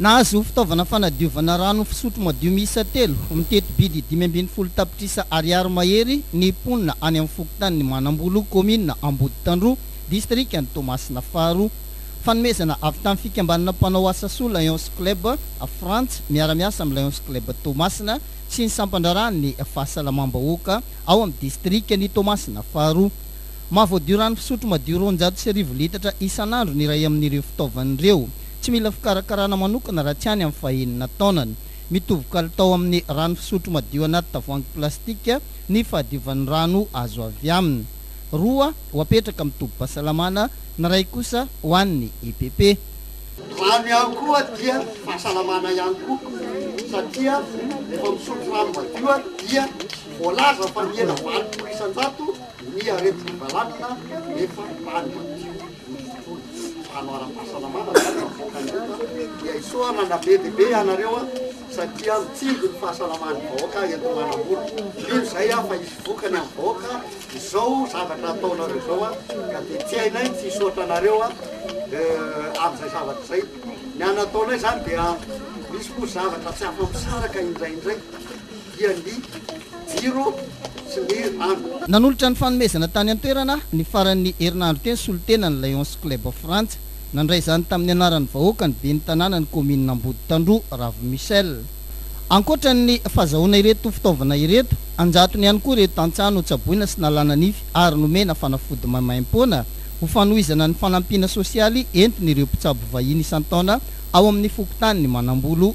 Nahazo fitaovana fanadiovana rano fisotro madio miisa telo, mitety bidy dimy ambin'ny folo tapitrisa ariary mahery ny mponina any amin'ny fokontanin'i Manambolo, kaominina Amboditandroa, distrikan'i Toamasina faharoa. Fanomezana avy tamin'ny fikambanana mpanao asa soa Lions Club Frantz miara-miasa amin'ny Lions Club Toamasina sy ny sampandraharahan'ny fahasalamam-bahoaka ao amin'ny distrikan'i Toamasina faharoa. Mahavoadio rano fisotro madio roanjato sy arivo litatra isan'andro ny iray amin'ireo fitaovana ireo. Tsy mila fikarakarana manokana raha tsy any amin'ny fahenina taonany. Mitovy kalitao amin'ny rano fisotro madio anaty tavoahangy plastika ny fahadiovan'ny rano azo avy aminy. Roa ho apetraka amin'ny tobim-pahasalamana, ny iray kosa ho an'ny EPP. Ny rano ihany koa dia fahasalamana ihany koa satria rehefa misotro rano madio dia voalaza fa mihena valopolo isan-jato ny aretina balanina rehefa rano madio. Ny tody hanao ara-pahasalamana no avoaka ny ota dia hisoanana be dia be ianareo a, satria mitsinjo ny fahasalaman'ny vahoaka eto Manambolo. Mino izay aho fa hisy vokany amin'ny vahoaka izao zavatra ataonareo izao a, ka dia tsy hainay ny tsy hisaotra anareo a amin'izay zavatra izay. Ny anataonay izany dia misy moa zavatra tsy afa-misaraka indraindray. dia ny jiro sy ny rano. Nanolotra ny fanomezana tany an-toerana ny faran'ny herinandro teo ny solontenan'ny Lions Club of Frantsa. Nandray izany tamin'ny anaran'ny vahoaka ny ben'ny tanànan'ny kaominina Amboditandroa, Ravo Michel. Ankoatra ny fazahoana ireto fitaovana ireto, an-jatony ihany koa ireo tantsaha notsaboina sy nalana nify ary nomena fanafody maimaimpoana ho fanohizana ny fanampiana sosialy entin'ireo mpitsabo vahiny isan-taona ao amin'ny fokontanin'i Manambolo.